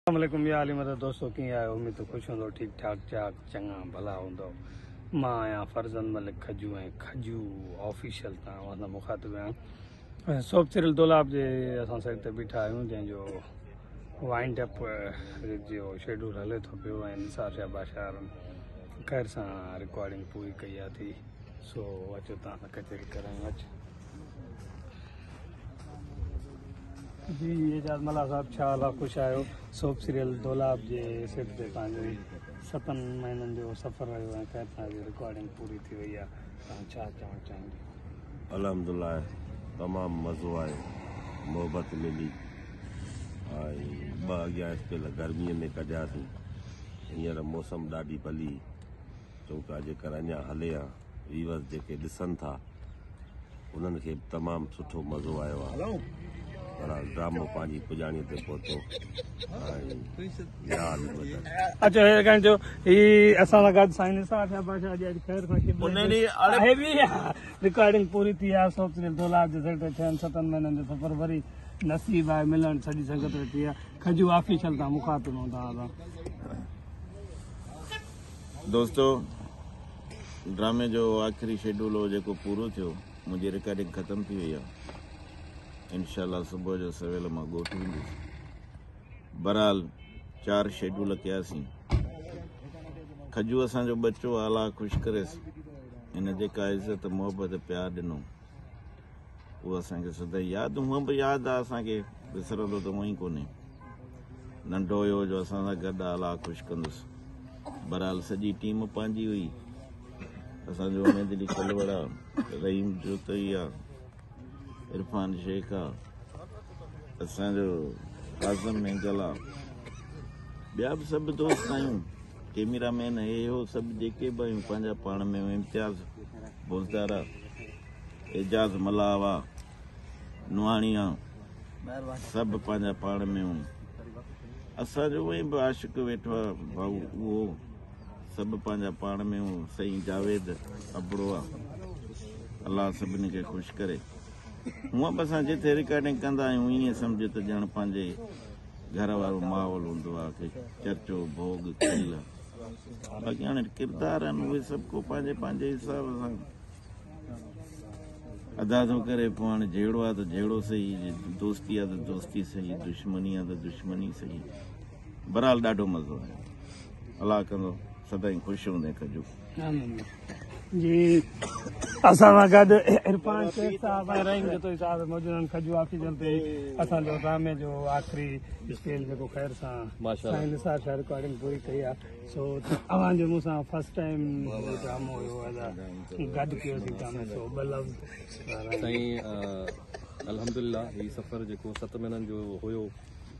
اسلام عليڪم يا علي مدد دوستو ڪيئن آهيو اميد ته خوش هوندؤ ٺيڪ ٺاڪ چاڪ چڱا ڀلا هوندؤ مان آهيان فرزند ملڪ کجو ۽ کجو آفيشل تان اوهان سان مخاطب آهيان سوپ سريل دولاب جي اسان سائيڊ تي بيٺا آهيون جنهن جو وائنڊ اپ جو شيڊول هلي ٿو پيو ۽ نثار شاهه باشار خير سان رڪارڊنگ پوري ڪئي آهي ٿي سو اچو تان سان ڪچهري ڪرايون اچ جي اعجاز ملاح صاحب ڇا حال آ خوش آهيو سوپ سيريل دولاب جي سيٽ تي پنهنجو هي ستن مهينن جو سفر رهيو ۽ خير تان جي رڪارڊنگ پوري ٿي وئي آ توهان ڇا چوڻ چاهيندي الحمدلله تمام مزو آيو محبت ملي ۽ ٻه اڳيان اسپيل گرمي ۾ ڪڍياسين هينئر موسم ڏاڍي ڀلي چئون پيا جيڪر اڃا هلي ها ويورز جيڪي ڏسن ٿا انهن کي به تمام سٺو مزو آيو آهي بهرحال ڊرامو پنهنجي پڄاڻي تي پهتو اچو هير کان جو هي اسان سان گڏ سائين نثار شاهه بادشاهه جي اڄ خير کان ڪيم رڪارڊنگ پوري ٿي آهي سوچ جي دولار جي سيٽ ٿين ستن مهينن جو سفر وري نصيب آهي ملڻ سڄي سنگت ٿي آهي کجو آفيشل تان مخاطب هوندا دوستو ڊرامي جو آخري شيڊول هو جيڪو پورو ٿيو منهنجي رڪارڊنگ ختم ٿي وئي آهي انشاء الله صبح جو سويل مان ڳوٺ ويندس بهرحال چار شيڊول ڪياسين کجو اسان جو ٻچو آلا خوش ڪريس هن جيڪا عزت محبت پيار ڏنو اهو اسان کي سدائين ياد هونء به ياد آهي اسان کي وسرندو ته هونء ئي ڪونهي ننڍو هيو جو اسان سان گڏ آلا خوش ڪندس بهرحال سڄي ٽيم پنهنجي هئي اسان جو اميد علي کلوڙ آ رحيم جوتوئي آ عرفان شيخ آ اسان جو اعظم مينگل آ ٻيا به سڀ دوست آهيون ڪيميرا مين هي هو سڀ جيڪي به آهيون پنهنجا پاڻ ۾ امتياز بوزدار اعجاز ملاح واھ نوحاڻيا سڀ پنهنجا پاڻ ۾ هون اسان جو ايئن به عاشق ويٺو آ ڀائو اهو سڀ پنهنجا پاڻ ۾ هون سائين جاويد ابڙو آ الله سڀني کي خوش ڪري هونء به اسان جتي رڪارڊنگ ڪندا آهيون ائين سمجهه ته ڄڻ پنهنجي گهر وارو ماحول هوندو آهي چرچو ڀوڳ کل باقي هاڻي ڪردار آهن اهي سڀ ڪو پنهنجي پنهنجي حساب سان ادا ٿو ڪري پوء هاڻي جهيڙو آهي ته جهيڙو صحيح دوستي آهي ته دوستي صحيح دشمني آهي ته دشمني صحيح برحال ڏاڍو مزو آيو الله ڪندو سدائين خوش هوندين ڪجو جي اسان سان گڏ عرفان شيخ صاحب ۽ رحيم جتوئي صاحب موجود آهن کجو آڪسيجن تي اسان جو ڊرامي جو آخري اسڪيل جيڪو خير سان سائين نثار شاهه رڪارڊنگ پوري ڪئي آهي سو اوهان جو مون سان فرسٽ ٽائم ڊرامو هيو ادا گڏ ڪيو سي ڊرامي سو ٻه لفظ سائين الحمدلله هي سفر جيڪو ست مهينن جو هيو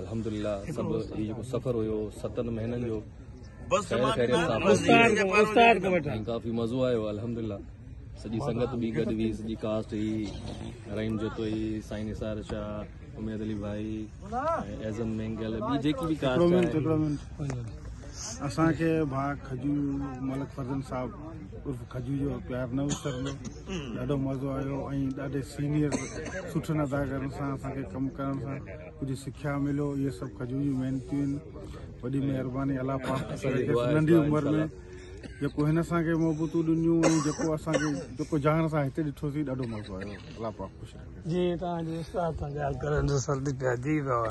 الحمدلله سڀ هي جيڪو سفر هيو ستن مهينن جو ڪافي مزو آيو الحمدلله سڄي سنگت به گڏ هئي سڄي ڪاسٽ هئي رحيم جتوئي سائين نثار شاهه اميد علي ڀائي اعظم مينگل ٻي جيڪي به ڪاسٽ اسان کي ڀا کجو ملڪ فرزن صاحب عرف کجو جو پيار نه وسرندو ڏاڍو مزو آيو ۽ ڏاڍي سينيئر سٺن اداڪارن سان اسان کي ڪم ڪرڻ سان ڪجهه سکيا مليو اهي سڀ کجور جون محنتيون آهن وڏي مهرباني الله پاڪ ننڍي عمر ۾ جيڪو هن اسان کي محبتون ڏنيون ۽ جيڪو اسان کي جيڪو جهان اسان هتي ڏٺوسي ڏاڍو مزو آيو الله پاڪ خوش رکي جي توهان جو استاد سان ڳالهه ڪرڻ جو سرد پيا جي بابا